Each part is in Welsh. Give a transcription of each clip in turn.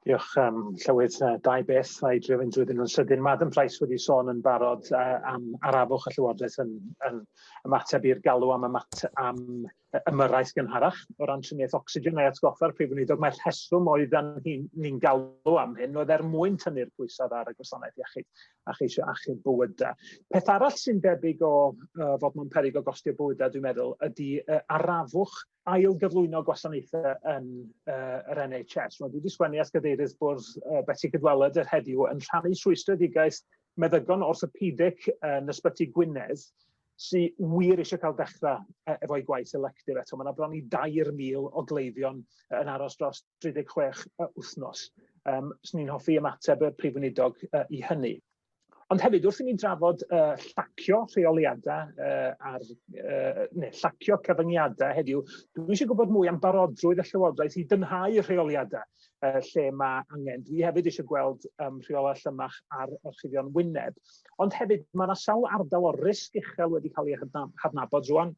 Diolch, um, Llywydd. Uh, dau beth, dau drio fynd drwy nhw'n sydyn. Madam Price wedi sôn yn barod uh, am arafwch y Llywodraeth yn, yn ymateb i'r galw am, ymat, am ymyrraeth gynharach o ran triniaeth ocsigen a'i atgoffa'r Prif Weinidog. Mae'r rheswm oedd ni'n ni galw am hyn oedd er mwyn tynnu'r pwysau ar y gwasanaeth iechyd a cheisio achub bywydau. Peth arall sy'n debyg o uh, fod mewn perig o gostio bywydau, dwi'n meddwl, ydy uh, arafwch ail gyflwyno gwasanaethau yn uh, yr NHS. Rwy'n wedi sgwennu at gadeirydd bwrdd uh, Betsi Cydweled yr heddiw yn rhannu rhwystredigaeth meddygon orthopedic yn ysbyty Gwynedd sy'n wir eisiau cael dechrau e, efo'i gwaith electif eto. Mae yna bron i 2,000 o gleifion yn aros dros 36 wythnos. Um, Swn i'n hoffi ymateb y prif weinidog uh, i hynny. Ond hefyd, wrth i ni drafod uh, llacio rheoliadau uh, ar, uh, neu llacio cyfyngiadau heddiw, dwi eisiau gwybod mwy am barodrwydd y Llywodraeth i dynhau rheoliadau uh, lle mae angen. Dwi hefyd eisiau gweld um, rheolau llymach ar orchuddion wyneb. Ond hefyd, mae yna sawl ardal o'r risg uchel wedi cael ei hadnabod rwan,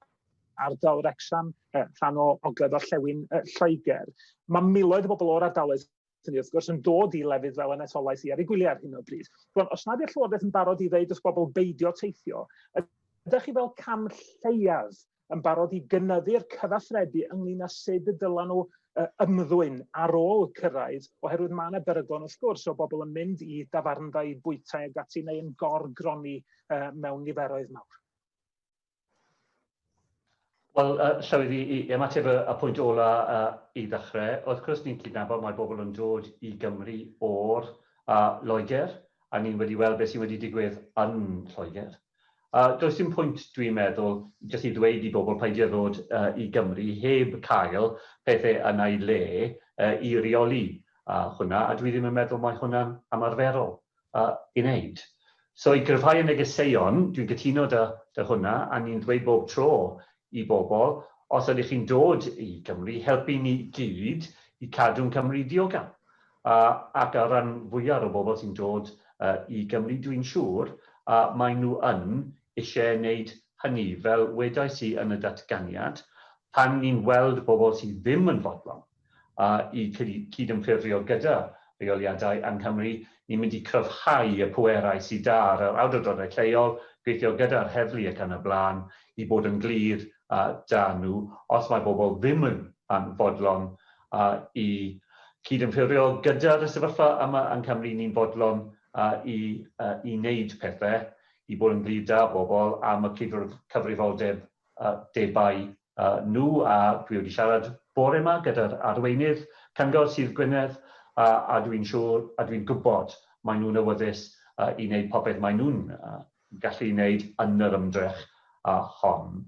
ardal Rexham, uh, rhan o ogledd orllewin uh, Lloegr. Mae miloedd o bobl o'r ardaloedd Dyn ni wrth gwrs yn dod i lefydd fel yn etholaeth i ar ei gwyliau ar hyn o bryd. Rwan, os nad yw'r Llywodraeth yn barod i ddeud wrth bobl beidio teithio, ydych chi fel cam lleiaf yn barod i gynyddu'r cyfathrebu ynglyn â sut y dylen nhw ymddwyn ar ôl cyrraedd, oherwydd mae yna beryglon wrth gwrs o bobl yn mynd i dafarndai, bwytai ag ati neu yn gorgroni mewn niferoedd mawr. Wel, uh, Llywydd, i, i ymateb y, y pwynt ola uh, i ddechrau, wrth gwrs ni'n cydnabod mae bobl yn dod i Gymru o'r uh, Loegr, a ni'n wedi weld beth sy'n wedi digwydd yn Lloegr. Uh, does dim pwynt, dwi'n meddwl, jyst i ddweud i bobl peidio ddod uh, i Gymru heb cael pethau yna i le uh, i reoli uh, hwnna, a dwi ddim yn meddwl mae hwnna'n ymarferol. i wneud. So i gryfhau y negeseuon, dwi'n cytuno 'da hwnna, a ni'n ddweud bob tro i bobl, os ydych chi'n dod i Gymru, helpu ni gyd i cadw'n Cymru diogel. Ac ar ran fwyaf o bobl sy'n dod i Gymru, dwi'n siŵr, maen nhw yn eisiau wneud hynny. Fel wedais i yn y datganiad, pan ni'n weld bobl sydd ddim yn fodlon, a'u cydymffurfio gyda rheoliadau yng Nghymru, ni'n mynd i gryfhau y pwerau sy 'da ar yr awdurdodau lleol, gweithio gyda'r heddlu ac yn y blaen, i bod yn glir 'da nhw, os mae bobl ddim yn fodlon i gydymffurfio gyda'r y sefyllfa yma yng Nghymru, ni'n fodlon i wneud pethau i bod yn glir 'da bobl am y cyfrifoldebau nhw a dwi wedi siarad bore ma gyda'r arweinydd cyngor Sir Gwynedd a a dwi'n siŵr a dwi'n gwybod maen nhw'n awyddus i wneud popeth maen nhw'n gallu wneud yn yr ymdrech hon.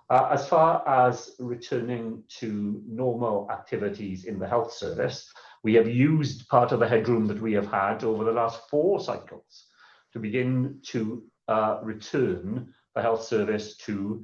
As far as returning to normal activities in the health service, we have used part of the headroom that we have had over the last four cycles to begin to return the health service to